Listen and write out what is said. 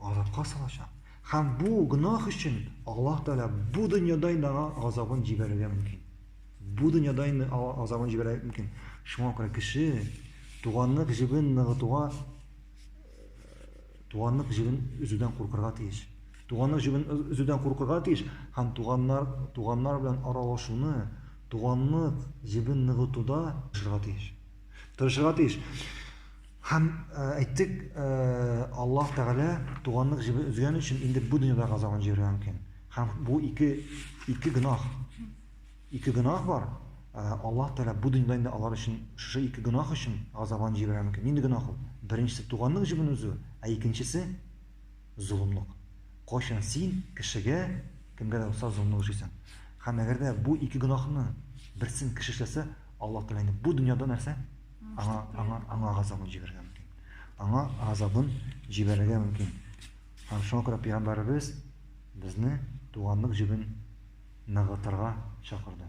Азапка салачак. Һәм бу гөнаһ өчен Аллаһ Тәгалә бу дөньяда инде аңа газабын җибәрергә мөмкин. Бу дөньяда инде газабын җибәрергә мөмкин. Шуңа күрә кеше туганлык җебен ныгытуга туганлык җебен өзүдән куркырга тиеш. Туганлык җебен өзүдән куркырга тиеш һәм туганнар туганнар белән аралашуны, туганлык җебен ныгытуда тырышырга тиеш. Тырышырга тиеш. Һәм, әйттек, Аллаһ Тәгалә туганлык җебен өзгән өчен инде бу дөньяда газабын җибәрергә мөмкин. Һәм бу ике ике гөнаһ. Ике гөнаһ бар. Аллаһ Тәгалә бу дөньяда инде алар өчен шушы ике гөнаһ өчен газабын җибәрергә мөмкин. Нинди гөнаһ ул? Беренчесе туганлык җебен өзү, ә икенчесе золымлык. Кайчан син кешегә кемгә дә булса золымлык эшлисең? Һәм әгәр дә бу ике гөнаһның берсен кеше эшләсә, Аллаһ Тәгалә инде бу дөньяда нәрсә? Аңа, аңа, аңа газабын җибәрергә мөмкин. Аңа газабын җибәрергә мөмкин. Һәм шуңа күрә пәйгамбәребез безне туганлык җебен ныгытырга чакырды.